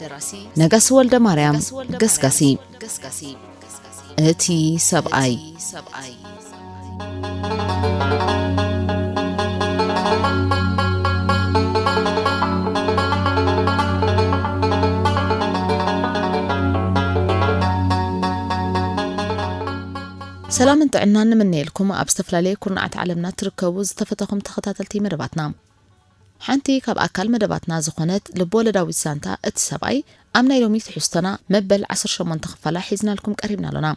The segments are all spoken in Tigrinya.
ደራሲ ነጋሲ ወልደማርያም ገስጋሲ ገስጋሲ እቲ ሰብኣይ ሰብኣይ ሰላምን ጥዕናን ንምነየልኩም ኣብ ዝተፈላለየ ኩርናዓት ዓለምና እትርከቡ ዝተፈተኹም ተኸታተልቲ መደባትና ሓንቲ ካብ ኣካል መደባትና ዝኾነት ልብ-ወለዳዊት ዛንታ እቲ ሰብኣይ ኣብ ናይ ሎሚ ትሕዝቶና መበል ዓሰርተ ሸሞንተ ክፋላ ሒዝናልኩም ቀሪብና ኣሎና።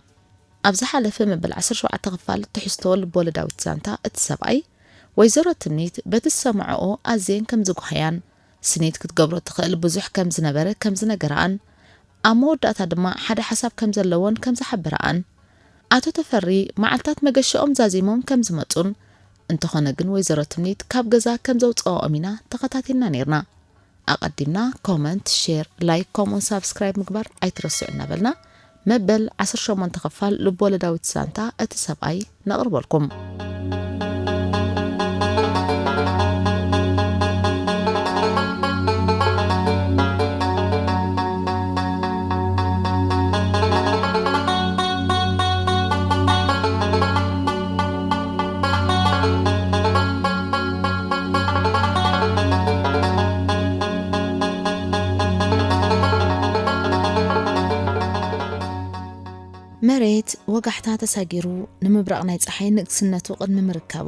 ኣብ ዝሓለፈ መበል ዓሰርተ ሸውዓተ ክፋል ትሕዝቶ ልብ-ወለዳዊት ዛንታ እቲ ሰብኣይ፣ ወይዘሮ ትምኒት በቲ ዝሰመዐኦ ኣዝየን ከም ዝጓሃያን፣ ስኒት ክትገብሮ እትኽእል ብዙሕ ከም ዝነበረ ከም ዝነገረኣን፣ ኣብ መወዳእታ ድማ ሓደ ሓሳብ ከም ዘለዎን ከም ዝሓበረኣን፣ ኣቶ ተፈሪ መዓልታት መገሻኦም ዛዚሞም ከም ዝመጹን፣ እንተኾነ ግን ወይዘሮ ትምኒት ካብ ገዛ ከም ዘውጸኦኦም ኢና ተኸታቲልና ኔርና። ኣቀዲምና ኮመንት ሼር ላይክ ከምኡውን ሳብስክራይብ ምግባር ኣይትረስዑ እናበልና መበል ዓሰርተ ሸሞንተ ክፋል ልብወለዳዊት ዛንታ እቲ ሰብኣይ ነቕርበልኩም። መሬት ወጋሕታ ተሳጊሩ ንምብራቕ ናይ ጸሓይ ንግስነቱ ቅድሚ ምርካቡ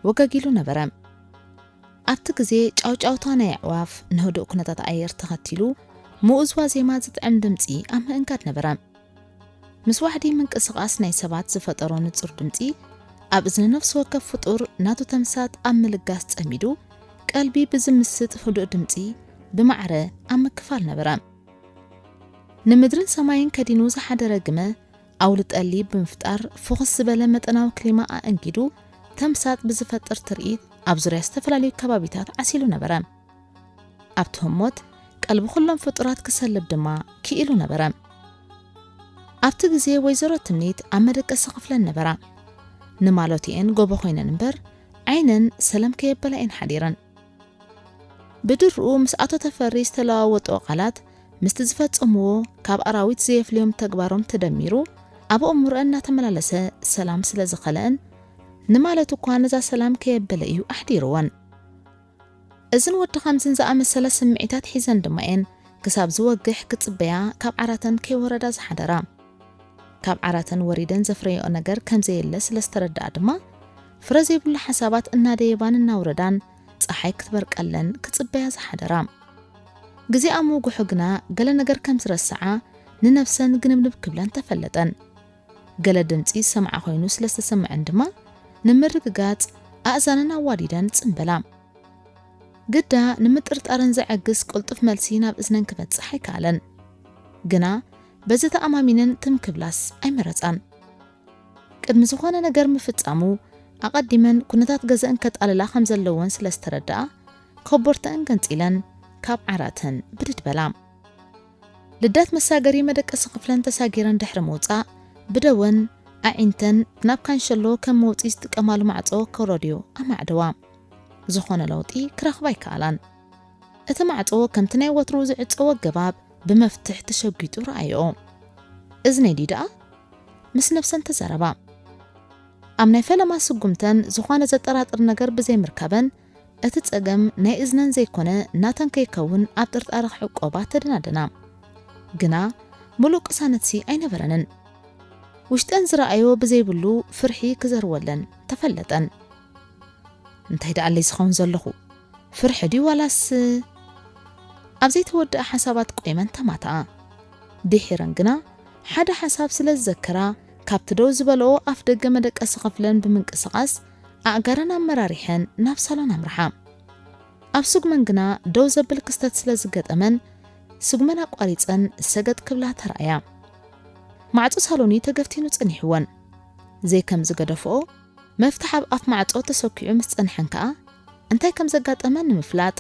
ወጋጊሉ ነበረ። ኣብቲ ግዜ ጫውጫውታ ናይ ኣዕዋፍ ንህዱእ ኩነታት ኣየር ተኸቲሉ ምኡዝ ዋዜማ ዝጥዕም ድምጺ ኣብ ምእንጋድ ነበረ። ምስ ዋሕዲ ምንቅስቓስ ናይ ሰባት ዝፈጠሮ ንጹር ድምጺ፣ ኣብ እዝኒ ነፍሲ ወከፍ ፍጡር ናቱ ተምሳጥ ኣብ ምልጋስ ጸሚዱ፣ ቀልቢ ብዝምስጥ ህዱእ ድምጺ ብማዕረ ኣብ ምክፋል ነበረ። ንምድርን ሰማይን ከዲኑ ዝሓደረ ግመ ኣውሊ ጠሊ ብምፍጣር ፍኹስ ዝበለ መጠናዊ ክሊማ ኣእንጊዱ ተምሳጥ ብዝፈጥር ትርኢት ኣብ ዙርያ ዝተፈላለዩ ከባቢታት ዓሲሉ ነበረ። ኣብቲ ህሞት ቀልቢ ኩሎም ፍጡራት ክሰልብ ድማ ክኢሉ ነበረ። ኣብቲ ግዜ ወይዘሮ ትምኒት ኣብ መደቀሲ ክፍለን ነበራ። ንማሎቲኤን ጎቦ ኮይነን እምበር ዓይነን ሰለም ከየበላ እየን ሓዲረን። ብድርኡ ምስ ኣቶ ተፈሪ ዝተለዋወጥኦ ቃላት ምስቲ ዝፈጸምዎ ካብ ኣራዊት ዘየፍልዮም ተግባሮም ተደሚሩ ኣብ ኣእምሮአን እናተመላለሰ ሰላም ስለ ዝኸለአን ንማለት እኳ ነዛ ሰላም ከየበለ እዩ ኣሕዲርወን። እዝን ወዲ ከምዝን ዝኣመሰለ ስምዒታት ሒዘን ድማ እየን ክሳብ ዝወግሕ ክጽበያ ካብ ዓራተን ከይወረዳ ዝሓደራ። ካብ ዓራተን ወሪደን ዘፍረየኦ ነገር ከም ዘየለ ስለ ዝተረድኣ ድማ፣ ፍረ ዘይብሉ ሓሳባት እናደየባን እናውረዳን ጸሓይ ክትበርቀለን ክጽበያ ዝሓደራ። ግዜ ኣብ ምውግሑ ግና ገለ ነገር ከም ዝረስዓ ንነብሰን ግንብንብ ክብለን ተፈለጠን። ገለ ድምጺ ዝሰምዓ ኮይኑ ስለ ዝተሰመዐን ድማ ንምርግጋጽ ኣእዛነን ኣዋዲደን ጽን በላ። ግዳ ንምጥርጣረን ዘዐግስ ቅልጡፍ መልሲ ናብ እዝነን ክበጽሕ ኣይከኣለን። ግና በዚ ተኣማሚነን ትም ክብላስ ኣይመረጻን። ቅድሚ ዝኾነ ነገር ምፍጻሙ ኣቐዲመን ኩነታት ገዘእን ከጣልላ ከም ዘለወን ስለ ዝተረድኣ ኮቦርተአን ገንጺለን ካብ ዓራተን ብድድ በላ። ልደት መሳገሪ መደቀሲ ክፍለን ተሳጊረን ድሕሪ ምውጻእ፣ ብደወን ኣዒንተን ናብ ካንሸሎ ከም መውጽኢ ዝጥቀማሉ ማዕጾ ከውረድዮ ኣማዕደዋ። ዝኾነ ለውጢ ክረኽባ ኣይከኣላን። እቲ ማዕጾ ከምቲ ናይ ወትሩ ዝዕጸው ኣገባብ ብመፍትሕ ተሸጒጡ ረኣየኦ። እዝነይ ድዩ ደኣ? ምስ ነብሰን ተዛረባ። ኣብ ናይ ፈለማ ስጉምተን ዝኾነ ዘጠራጥር ነገር ብዘይምርካበን እቲ ጸገም ናይ እዝነን ዘይኮነ ናተን ከይከውን ኣብ ጥርጣረ ክዕቆባ ተደናደና። ግና ምሉእ ቅሳነትሲ ኣይነበረንን። ውሽጠን ዝረኣዮ ብዘይብሉ ፍርሒ ክዘርወለን ተፈለጠን። እንታይ ደኣለይ ዝኸውን ዘለኹ? ፍርሒ ድዩ ዋላስ? ኣብ ዘይተወድኣ ሓሳባት ቆይመን ተማትኣ። ድሒረን ግና ሓደ ሓሳብ ስለ ዝዘከራ ካብቲ ደው ዝበለኦ ኣፍደገ መደቀሲ ክፍለን ብምንቅስቓስ ኣእጋረን ኣመራሪሐን ናብ ሳሎን ኣምርሓ። ኣብ ስጉመን ግና ደው ዘብል ክስተት ስለ ዝገጠመን ስጉመን ኣቋሪጸን ሰገጥ ክብላ ተራእያ። ማዕጾ ሳሎን'ዩ ተገፍቲኑ ጸኒሕወን። ዘይከም ዝገደፍኦ መፍትሕ ኣብ ኣፍ ማዕጾ ተሰኪዑ ምስ ጸንሐን ከኣ እንታይ ከም ዘጋጠመን ንምፍላጥ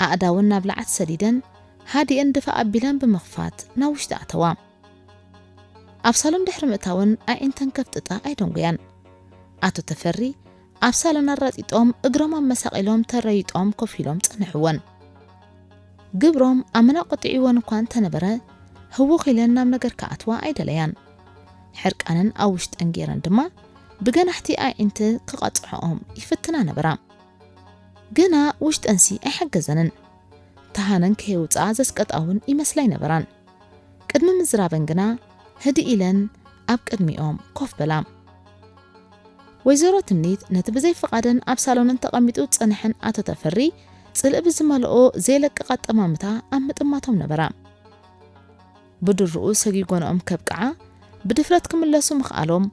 ኣእዳወን ናብ ለዓት ሰዲደን ሃዲእን ድፋእ ኣቢለን ብምኽፋት ናብ ውሽጢ ኣተዋ። ኣብ ሳሎን ድሕሪ ምእታወን ኣዒንተን ከፍጥጣ ኣይደንጉያን። ኣቶ ተፈሪ ኣብ ሳሎን ኣራጢጦም እግሮም ኣመሳቒሎም ተረይጦም ኮፍ ኢሎም ጸንሕወን። ግብሮም ኣመና ቆጢዕወን እኳ እንተነበረ ህውኽ ኢለን ናብ ነገር ክኣትዋ ኣይደለያን። ሕርቃነን ኣብ ውሽጠን ገይረን ድማ ብገናሕቲ ኣዒንቲ ክቐጽዕኦም ይፍትና ነበራ። ግና ውሽጠንሲ ኣይሓገዘንን። ተሃነን ከየውጽኣ ዘስቀጣ እውን ይመስላ ኣይነበራን። ቅድሚ ምዝራበን ግና ህድእ ኢለን ኣብ ቅድሚኦም ኮፍ በላ። ወይዘሮ ትምኒት ነቲ ብዘይ ፍቓደን ኣብ ሳሎነን ተቐሚጡ ዝጸንሐን ኣቶ ተፈሪ ጽልኢ ብዝመልኦ ዘይለቅቕ ኣጠማምታ ኣብ ምጥማቶም ነበራ። ብድሩኡ ሰጊጎንኦም ከብቅዓ ብድፍረት ክምለሱ ምኽኣሎም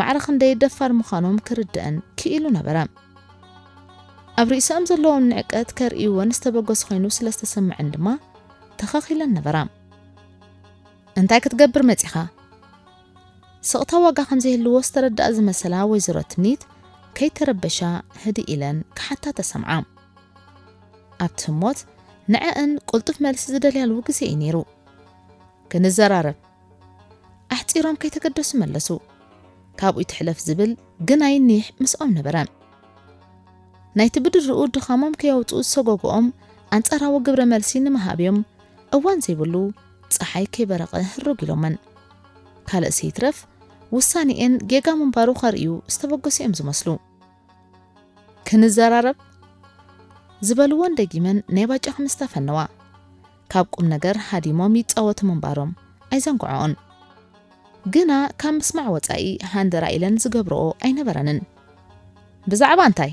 ማዕረ ክንደይ ደፋር ምዃኖም ክርድእን ክኢሉ ነበረ። ኣብ ርእሰኦም ዘለዎም ንዕቀት ከርእይወን ዝተበገሱ ኮይኑ ስለ ዝተሰምዐን ድማ ተኸኺለን ነበራ። እንታይ ክትገብር መጺኻ? ስቕታ ዋጋ ከም ዘይህልዎ ዝተረድኣ ዝመሰላ ወይዘሮ ትምኒት ከይተረበሻ ህድእ ኢለን ክሓታ ተሰምዓ። ኣብቲ ህሞት ንዐእን ቅልጡፍ መልሲ ዝደልያሉ ግዜ እዩ ነይሩ። ክንዘራረብ ኣሕጺሮም ከይተገደሱ መለሱ። ካብኡይ ትሕለፍ ዝብል ግናይ ኒሕ ምስኦም ነበረ። ናይቲ ብድርኡ ድኻሞም ከየውጽኡ ዝሰጎጎኦም ኣንጻራዊ ግብረ መልሲ ንምሃብ እዮም እዋን ዘይብሉ ጸሓይ ከይበረቐ ህርግ ኢሎመን። ካልእሲ ይትረፍ ውሳኔኤን ጌጋ ምንባሩ ከርእዩ ዝተበገሱ እዮም ዝመስሉ። ክንዘራረብ ዝበልዎን ደጊመን ናይ ባጫ ክምስታ ፈነዋ። ካብ ቁምነገር ሃዲሞም ይጻወቱ ምንባሮም ኣይዘንግዖኦን። ግና ካብ ምስማዕ ወጻኢ ሃንደራእ ኢለን ዝገብርኦ ኣይነበረንን። ብዛዕባ እንታይ?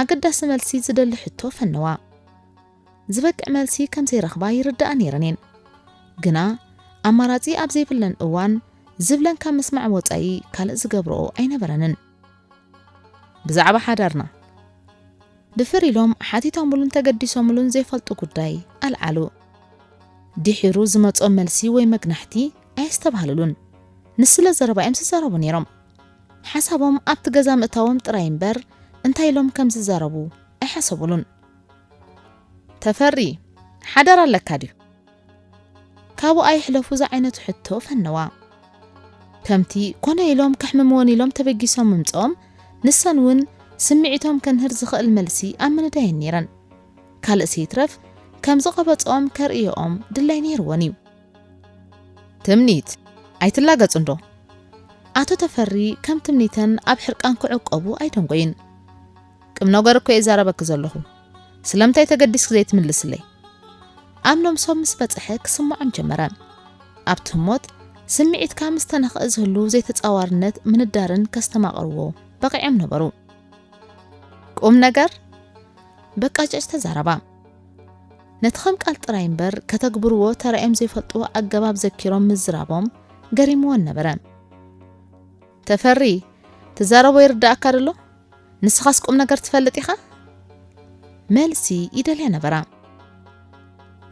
ኣገዳሲ መልሲ ዝደሊ ሕቶ ፈነዋ። ዝበቅዕ መልሲ ከም ዘይረኽባ ይርድኣ ነይረን እየን። ግና ኣማራጺ ኣብ ዘይብለን እዋን ዝብለን ካብ ምስማዕ ወጻኢ ካልእ ዝገብርኦ ኣይነበረንን። ብዛዕባ ሓዳርና ድፍር ኢሎም ሓቲቶምሉን ተገዲሶምሉን ዘይፈልጡ ጉዳይ ኣልዓሉ። ድሒሩ ዝመጾም መልሲ ወይ መግናሕቲ ኣየስተብሃልሉን። ንስለ ዘረባ እዮም ዝዛረቡ ነይሮም። ሓሳቦም ኣብቲ ገዛ ምእታዎም ጥራይ እምበር እንታይ ኢሎም ከም ዝዛረቡ ኣይሓሰቡሉን። ተፈሪ ሓዳር ኣለካ ድዩ? ካብኡ ኣይሕለፉ ዝዓይነቱ ሕቶ ፈነዋ። ከምቲ ኮነ ኢሎም ከሕምምወን ኢሎም ተበጊሶም ምምጽኦም፣ ንሰን እውን ስምዒቶም ከንህር ዝኸእል መልሲ ኣብ ምንዳየን ነይረን። ካልእሲ ይትረፍ ከም ዝቐበጽኦም ከርእየኦም ድላይ ነይርወን እዩ። ትምኒት፣ ኣይትላገጽ እንዶ። ኣቶ ተፈሪ ከም ትምኒተን ኣብ ሕርቃን ክዕቆቡ ኣይደንጎዩን። ቕምነገር እኮ እየ ዛረበኪ ዘለኹ ስለምታይ ተገዲስኪ ዘይትምልስለይ? ኣብ ነብሶም ምስ በጽሐ ክስምዖም ጀመረ። ኣብቲ ህሞት ስምዒትካ ምስ ተነኽእ ዝህሉ ዘይተጻዋርነት ምንዳርን ከስተማቕርዎ በቒዖም ነበሩ። ቁምነገር በቃጨጭ ተዛረባ። ነቲ ከም ቃል ጥራይ እምበር ከተግብርዎ ተራእዮም ዘይፈልጡ ኣገባብ ዘኪሮም ምዝራቦም ገሪምወን ነበረ። ተፈሪ ትዛረቦ ይርዳኣካ ድሎ ንስኻስ ቁምነገር ትፈልጥ ኢኻ? መልሲ ይደልያ ነበራ።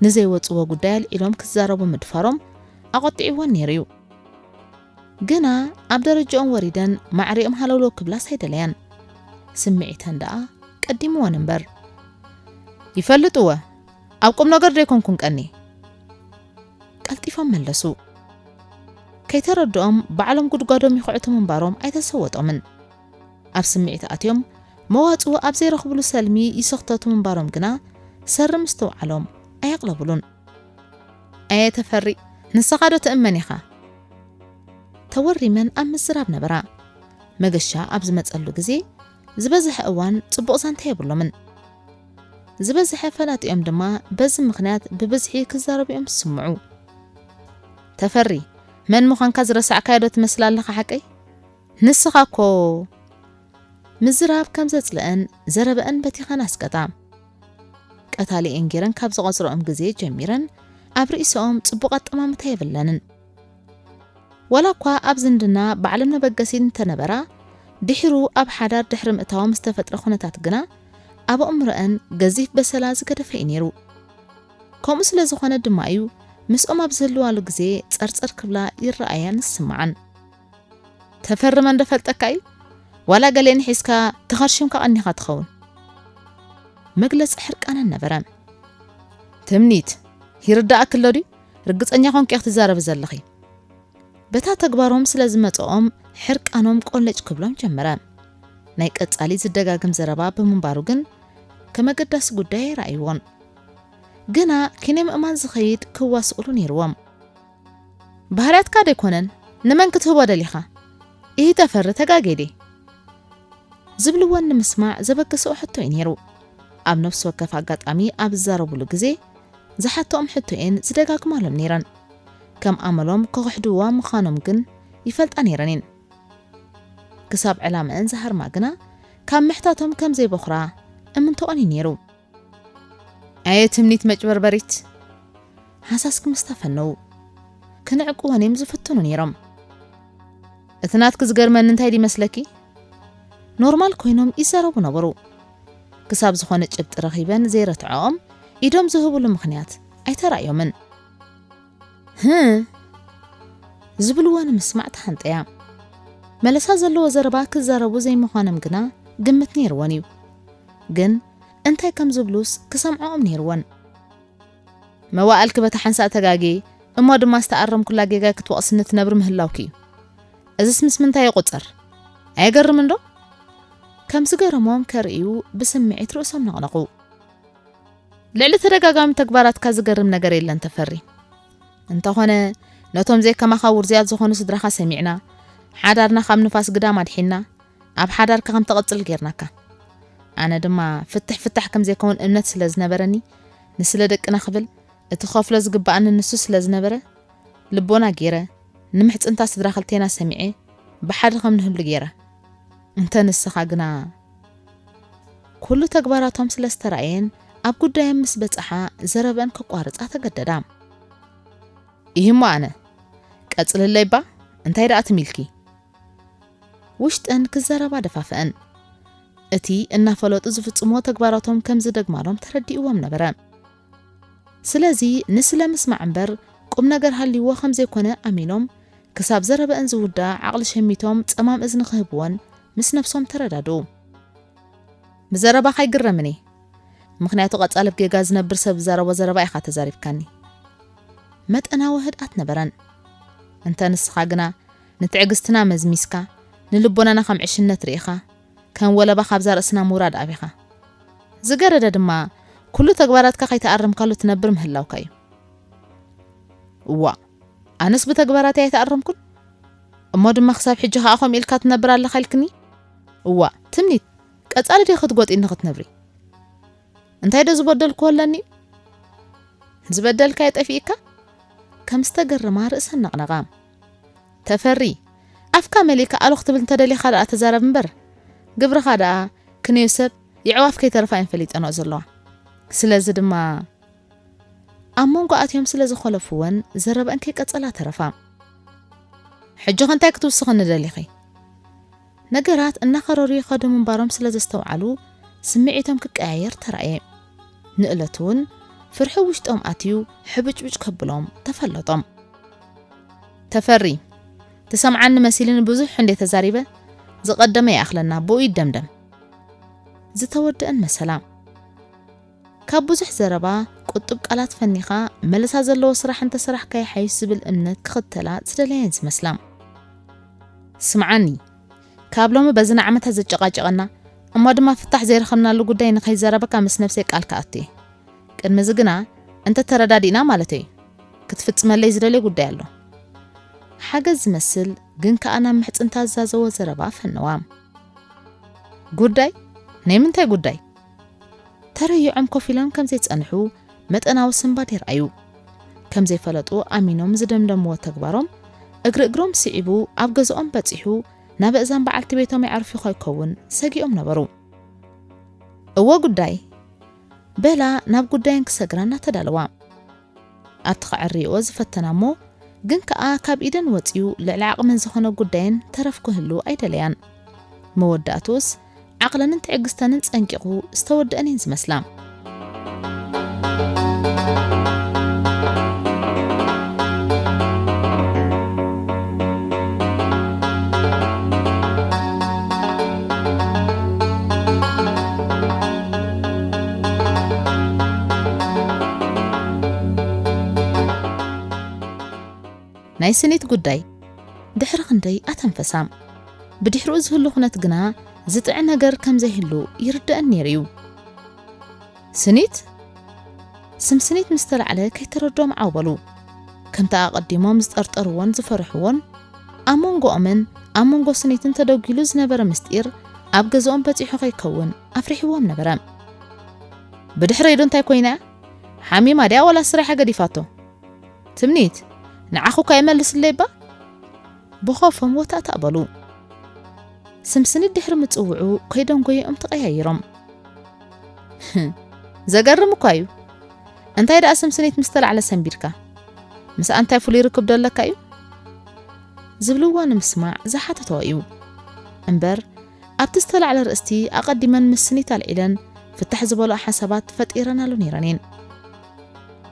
ንዘይወጽዎ ጉዳይ ኣልዒሎም ክዛረቡ ምድፋሮም ኣቖጢዕወን ነይሩ እዩ። ግና ኣብ ደረጃኦም ወሪደን ማዕሪኦም ሃለውለው ክብላስ ኣይደለያን። ስምዒተን ደኣ ቀዲምወን እምበር ይፈልጥወ ኣብ ቁምነገር ዶ ኣይኮንኩን ቀኒ? ቀልጢፎም መለሱ። ከይተረድኦም ባዕሎም ጉድጓዶም ይኹዕቱ ምንባሮም ኣይተሰወጦምን። ኣብ ስምዒት ኣትዮም መዋጽኦ ኣብ ዘይረኽብሉ ሰልሚ ይስኽተቱ ምንባሮም ግና ሰሪ ምስትውዓሎም ኣየቕለብሉን። ኣየ ተፈሪ! ንሰኻ ዶ ትእመን ኢኻ? ተወሪመን ኣብ ምዝራብ ነበራ። መገሻ ኣብ ዝመጸሉ ግዜ ዝበዝሐ እዋን ጽቡቕ ዛንታ የብሎምን። ዝበዝሐ ፈላጢኦም ድማ በዚ ምኽንያት ብብዝሒ ክዛረቡ'ዮም ዝስምዑ። ተፈሪ መን ምዃንካ ዝረሳዕካዮ ዶ ትመስል ኣለኻ ሓቀይ? ንስኻ እኮ ምዝራብ ከም ዘጽልአን ዘረበአን በቲኸን ኣስቀጣ። ቀታሊኤን ጌረን ካብ ዝቖጽረኦም ግዜ ጀሚረን ኣብ ርእሰኦም ጽቡቕ ኣጠማምታ የብለንን። ዋላ እኳ ኣብ ዝምድና ባዕሎም መበገሲ እንተነበራ፣ ድሒሩ ኣብ ሓዳር ድሕሪ ምእታዎም ዝተፈጥረ ኩነታት ግና ኣብ ኣእምሮኣን ገዚፍ በሰላ ዝገደፈ እዩ ነይሩ። ከምኡ ስለ ዝኾነ ድማ እዩ ምስኦም ኣብ ዝህልዋሉ ግዜ ጸርጸር ክብላ ይረኣያን ዝስምዓን። ተፈርመን ዶ ፈልጠካ እዩ? ዋላ ገሊኤን ሒዝካ ተኸርሺምካ ቀኒኻ ትኸውን። መግለጺ ሕርቃነን ነበረ። ትምኒት፣ ይርደኣኪ ኣሎ ድዩ? ርግጸኛ ኮንኪ ኢኺ ትዛረቢ ዘለኺ። በታ ተግባሮም ስለ ዝመጸኦም ሕርቃኖም ቆለጭ ክብሎም ጀመረ። ናይ ቀጻሊ ዝደጋግም ዘረባ ብምንባሩ ግን ከም ኣገዳሲ ጉዳይ ኣይረኣይዎን። ግና ኪነ ምእማን ዝኸይድ ክዋስእሉ ነይርዎም። ባህርያትካ ደይኮነን ንመን ክትህቦ ደሊኻ? ኢሂ ተፈሪ ተጋጌ ድየ? ዝብልዎን ንምስማዕ ዘበገሰኦ ሕቶ እዩ ነይሩ። ኣብ ነፍሲ ወከፍ ኣጋጣሚ ኣብ ዝዛረቡሉ ግዜ ዝሓትኦም ሕቶ'የን ዝደጋግማሎም ነይረን። ከም ኣመሎም ክኽሕድዋ ምኻኖም ግን ይፈልጣ ነይረን ኢን። ክሳብ ዕላመኣን ዝሃርማ ግና ካብ ምሕታቶም ከም ዘይበኹራ እምንቶኦን ኢዩ ነይሩ። ኣየ ትምኒት መጭበርበሪት! ሃሳስ ክምስታ ፈነዉ። ክንዕቅወን ኢዮም ዝፍትኑ ነይሮም። እቲ ናትኪ ዝገርመኒ እንታይ ድዩ ይመስለኪ? ኖርማል ኮይኖም ይዛረቡ ነበሩ። ክሳብ ዝኾነ ጭብጢ ረኺበን ዘይረትዐኦም ኢዶም ዝህቡሉ ምኽንያት ኣይተራእዮምን። ህህ! ዝብልዎ ንምስማዕ ተሃንጠያ። መለሳ ዘለዎ ዘረባ ክዛረቡ ዘይምዃኖም ግና ግምት ነይርወን እዩ። ግን እንታይ ከም ዝብሉስ ክሰምዐኦም ነይርወን። መዋእልኪ በታ ሓንሳእ ተጋግየ እሞ ድማ ዝተኣረምኩላ ጌጋይ ክትወቕስኒ ትነብሪ ምህላውኪ እዩ። እዝስ ምስ ምንታይ ይቑጸር? ኣየገርምንዶ? ከም ዝገረሞም ከርእዩ ብስምዒት ርእሶም ነቕነቑ። ልዕሊ ተደጋጋሚ ተግባራትካ ዝገርም ነገር የለን ተፈሪ። እንተኾነ ነቶም ዘይከማኻ ውርዙያት ዝኾኑ ስድራኻ ሰሚዕና፣ ሓዳርና ካብ ንፋስ ግዳም ኣድሒና፣ ኣብ ሓዳርካ ከም ተቐጽል ጌርናካ። ኣነ ድማ ፍትሕ ፍታሕ ከም ዘይከውን እምነት ስለ ዝነበረኒ ንስለ ደቅና ክብል እቲ ክኸፍሎ ዝግበኣኒ ንሱ ስለ ዝነበረ ልቦና ገይረ ንምሕጽንታ ስድራ ክልቴና ሰሚዐ ብሓደ ከም ንህሉ ገይረ እንተ ንስኻ ግና ኩሉ ተግባራቶም ስለ ዝተራእየን ኣብ ጉዳዮም ምስ በጽሓ ዘረበን ከቋርጻ ተገደዳ። ይህሞ ኣነ ቀጽልለይ እባ እንታይ ደኣ ትሚልኪ ውሽጠን ክዘረባ ደፋፍአን። እቲ እናፈለጡ ዝፍጽምዎ ተግባራቶም ከም ዝደግማሎም ተረዲእዎም ነበረ። ስለዚ ንስለ ምስማዕ እምበር ቁም ነገር ሃልይዎ ከም ዘይኮነ ኣሚኖም፣ ክሳብ ዘረበእን ዝውድኣ ዓቕሊ ሸሚቶም ጸማም እዝኒ ክህብወን ምስ ነብሶም ተረዳድኡ። ብዘረባኻ ኣይግረምን እየ፣ ምኽንያቱ ቀጻሊ ብ ጌጋ ዝነብር ሰብ ዝዛረቦ ዘረባ ኢኻ ተዛሪብካኒ። መጠናዊ ህድኣት ነበረን። እንተ ንስኻ ግና ንትዕግስትና መዝሚዝካ፣ ንልቦናና ከም ዕሽነት ርኢኻ፣ ከም ወለባ ካብዛ ርእስና ምውራድ ኣቢኻ። ዝገደደ ድማ ኩሉ ተግባራትካ ከይተኣረምካሉ ትነብር ምህላውካ እዩ። እዋእ ኣነስ ብተግባራተይ ኣይተኣረምኩን? እሞ ድማ ክሳብ ሕጂ ከኣ ከምኡ ኢልካ ትነብር ኣለኻ ኢልክኒ? እዋእ ትምኒት ቀጻሊ ድየ ክትጎጥይኒ ክትነብሪ? እንታይዶ ዝበደልክዎ ኣለኒ? ዝበደልካዮ ጠፊኢካ? ከም ዝተገረማ ርእሰን ነቕነቓ። ተፈሪ ኣፍካ መሊእካ ኣሎ ክትብል እንተደሊኻ ደኣ ተዛረብ እምበር ግብርኻ ደኣ ክንዮ ሰብ የዕዋፍ ከይተረፋ እየን ፈሊጠንኦ ዘለዋ ስለዚ ድማ ኣብ መንጎ ኣትዮም ስለ ዝኾለፍወን ዘረበኣን ከይቀጸላ ተረፋ። ሕጂኸ እንታይ ክትውስኽኒ ደሊኺ? ነገራት እናኸረሩ ይኸዱ ምንባሮም ስለ ዘስተውዓሉ ስምዒቶም ክቀያየር ተራእየ። ንእለቱ'ውን ፍርሒ ውሽጦም ኣትዩ ሕብጭብጭ ከብሎም ተፈለጦም። ተፈሪ! ትሰምዓኒ መሲልኒ ብዙሕ እንድየ ተዛሪበ፣ ዝቐደመ ይኣኽለና፣ ብኡ ይደምደም። ዝተወደእን መሰላ። ካብ ብዙሕ ዘረባ ቁጡብ ቃላት ፈኒኻ መለሳ ዘለዎ ስራሕ እንተሰራሕካ ይሓይሽ ዝብል እምነት ክኽተላ ዝደለያ እየን ዝመስላ። ስምዓኒ ካብ ሎሚ በዚ ንዓመታት ዘጨቓጨቐና እሞ ድማ ፍታሕ ዘይረኸብናሉ ጉዳይ ንኸይዘረበካ ምስ ነብሰይ ቃል ክኣቱ እየ። ቅድሚ እዚ ግና እንተተረዳዲእና ማለተይ'ዩ። ክትፍጽመለይ ዝደልዮ ጉዳይ ኣሎ። ሓገዝ ዝመስል ግን ከኣ ናብ ምሕጽንታ ዝዛዘዎ ዘረባ ፈነዋ። ጉዳይ? ናይ ምንታይ ጉዳይ? ተረዩዖም ኮፍ ኢሎም ከም ዘይጸንሑ መጠናዊ ስንባድ የርኣዩ። ከም ዘይፈለጡ ኣሚኖም ዝደምደምዎ ተግባሮም፣ እግሪ እግሮም ስዒቡ ኣብ ገዛኦም በጺሑ ናበእዛን በዓልቲ ቤቶም የዕርፍዩ ከይከውን ሰጊኦም ነበሩ። እወ ጉዳይ! በላ ናብ ጉዳየን ክሰግራ እናተዳለዋ። ኣብቲ ከዐርይኦ ዝፈተና እሞ ግን ከኣ ካብ ኢደን ወጺኡ ልዕሊ ዓቕመን ዝኾነ ጉዳየን ተረፍ ክህሉ ኣይደለያን። መወዳእትኡስ ዓቕለንን ትዕግስተንን ጸንቂቑ ዝተወደኣን እየን ዝመስላ። ናይ ስኒት ጉዳይ ድሕሪ ክንደይ ኣተንፈሳም ብድሕርኡ ዝህሉ ኩነት ግና ዝጥዕ ነገር ከም ዘይህሉ ይርደእን ነይሩ እዩ። ስኒት ስም ስኒት ምስ ተላዕለ ከይተረዶም ዓው በሉ። ከምቲ ኣቐዲሞም ዝጠርጠርዎን ዝፈርሕዎን ኣብ መንጎኦምን ኣብ መንጎ ስኒትን ተደጒሉ ዝነበረ ምስጢር ኣብ ገዝኦም በጺሑ ከይከውን ኣፍሪሕዎም ነበረ። ብድሕረይ ዶ እንታይ ኮይና እያ? ሓሚማ ድያ ዋላ ስራሓ ገዲፋቶ? ትምኒት፣ ንዓኹ እኳ ይመልስለይ እባ? ብኾፎም ወታእታእ በሉ። ስምስኒት ድሕሪ ምጽውዑ ከይደንጎየኦም ተቐያይሮም። ዘገርም እኳ እዩ። እንታይ ደኣ ስምስኒት ምስ ተላዕለ ሰንቢድካ ምስኣ እንታይ ፍሉይ ርክብ ዶ ኣለካ እዩ? ዝብልዎ ንምስማዕ ዝሓተቶ እዩ እምበር ኣብቲ ዝተላዕለ ኣርእስቲ ኣቐዲመን ምስ ስኒት ኣልዒለን ፍታሕ ዝበልኦ ሓሳባት ፈጢረናሉ ነይረን እየን።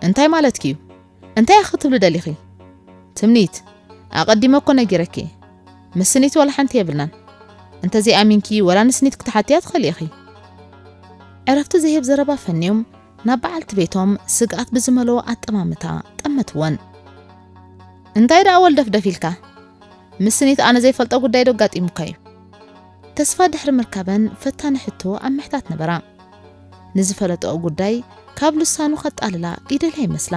እንታይ ማለትኪ እዩ? እንታይ እያ ክትብሊ ደሊኺ? ትምኒት፣ ኣቐዲመ እኮ ነጊረኪ እየ። ምስ ስኒት ዋላ ሓንቲ የብልናን። እንተዘይኣሚንኪ ዋላ ንስኒት ክትሓትያ ትኽእሊ ኢኺ። ዕረፍቲ ዘይህብ ዘረባ ፈንዮም ናብ በዓልቲ ቤቶም ስግኣት ብዝመልኦ ኣጠማምታ ጠመትወን። እንታይ ደኣ ወልደፍደፍ ኢልካ? ምስ ስኒት ኣነ ዘይፈልጦ ጉዳይዶ ኣጋጢሙካ'ዩ? ተስፋ ድሕሪ ምርካበን ፈታኒ ሕቶ ኣብ ምሕታት ነበራ። ንዝፈለጠኦ ጉዳይ ካብ ልሳኑ ከጣልላ ይደልያ ይመስላ።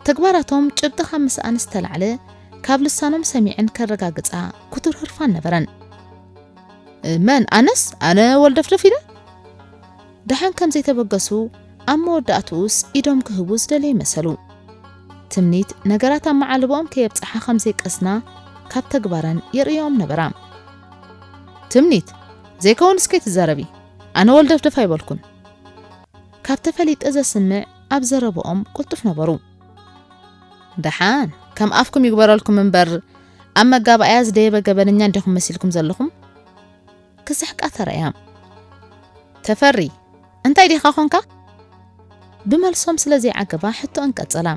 ተግባራቶም ጭብጢ ካብ ምስኣን ዝተላዕለ ካብ ልሳኖም ሰሚዐን ከረጋግጻ ክቱር ህርፋን ነበረን። መን? ኣነስ? ኣነ ወልደፍደፍ ኢለ? ደሓን ከም ዘይተበገሱ ኣብ መወዳእትኡስ ኢዶም ክህቡ ዝደለዩ መሰሉ። ትምኒት ነገራት ኣብ መዓልቦኦም ከየብጽሓ ከም ዘይቀስና ካብ ተግባረን የርእየኦም ነበራ። ትምኒት ዘይከውን እስከ ትዛረቢ ኣነ ወልደፍደፍ ኣይበልኩን ካብ ተፈሊጠ ዘስምዕ ኣብ ዘረብኦም ቁልጡፍ ነበሩ። ደሓን ከም ኣፍኩም ይግበረልኩም እምበር ኣብ መጋባእያ ዝደየበ ገበነኛ እንዲኹም መሲልኩም ዘለኹም። ክስሕቃ ተራእያም። ተፈሪ! እንታይ ዲኻ ኾንካ? ብመልሶም ስለ ዘይዓገባ ሕቶኣን ቀጸላ።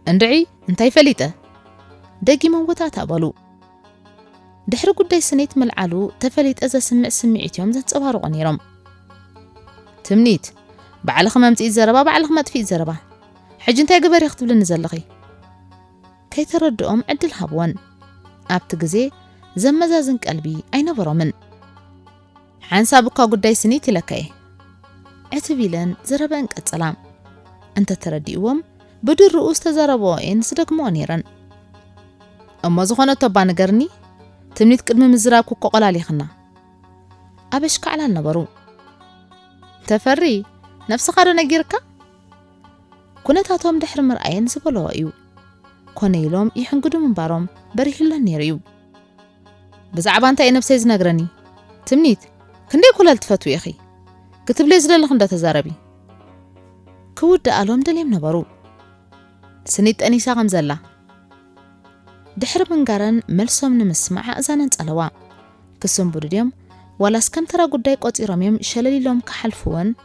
እንድዒ! እንታይ ፈሊጠ? ደጊሞም ወታታ በሉ። ድሕሪ ጉዳይ ስኒት ምልዓሉ ተፈሊጠ ዘስምዕ ስምዒት'ዮም ዘንጸባርቑ ነይሮም። ትምኒት! ባዕልኺ መምጽኢት ዘረባ ባዕልኺ መጥፍኢት ዘረባ! ሕጂ እንታይ ግበሪ ክትብልኒ ዘለኺ? ከይተረድኦም ዕድል ሃብወን። ኣብቲ ግዜ ዘመዛዝን ቀልቢ ኣይነበሮምን። ሓንሳብ እኳ ጉዳይ ስኒት ኢለካ'የ። ዕትብ ኢለን ዘረበኣን ቀጸላ። እንተ ተረዲእዎም ብድርኡ ዝተዛረብኦ'የን ዝደግምኦ ነይረን። እሞ ዝኾነቶ'ባ ንገርኒ? ትምኒት ቅድሚ ምዝራብኪ እኮ ቆላሊኽና። ኣበሽካዕላል ነበሩ። ተፈሪ ነብስኻዶ ነጊርካ? ኩነታቶም ድሕሪ ምርኣየን ዝበለኦ እዩ ኮነ ኢሎም ይሕንግዱ ምንባሮም በሪህለን ነይሩ እዩ። ብዛዕባ እንታይ እዩ ነብሰይ ዝነግረኒ? ትምኒት ክንደይ ኮለል ትፈትዊ ኢኺ? ክትብልዮ ዝደለኺ እንዶ ተዛረቢ። ክውድኣሎም ደልዮም ነበሩ። ስኒት ጠኒሳ ከም ዘላ ድሕሪ ምንጋረን መልሶም ንምስማዕ ኣእዛነን ጸለዋ። ክስንብዱ ድዮም ዋላስ ከም ተራ ጉዳይ ቆጺሮም እዮም ሸለል ኢሎም ክሓልፍወን?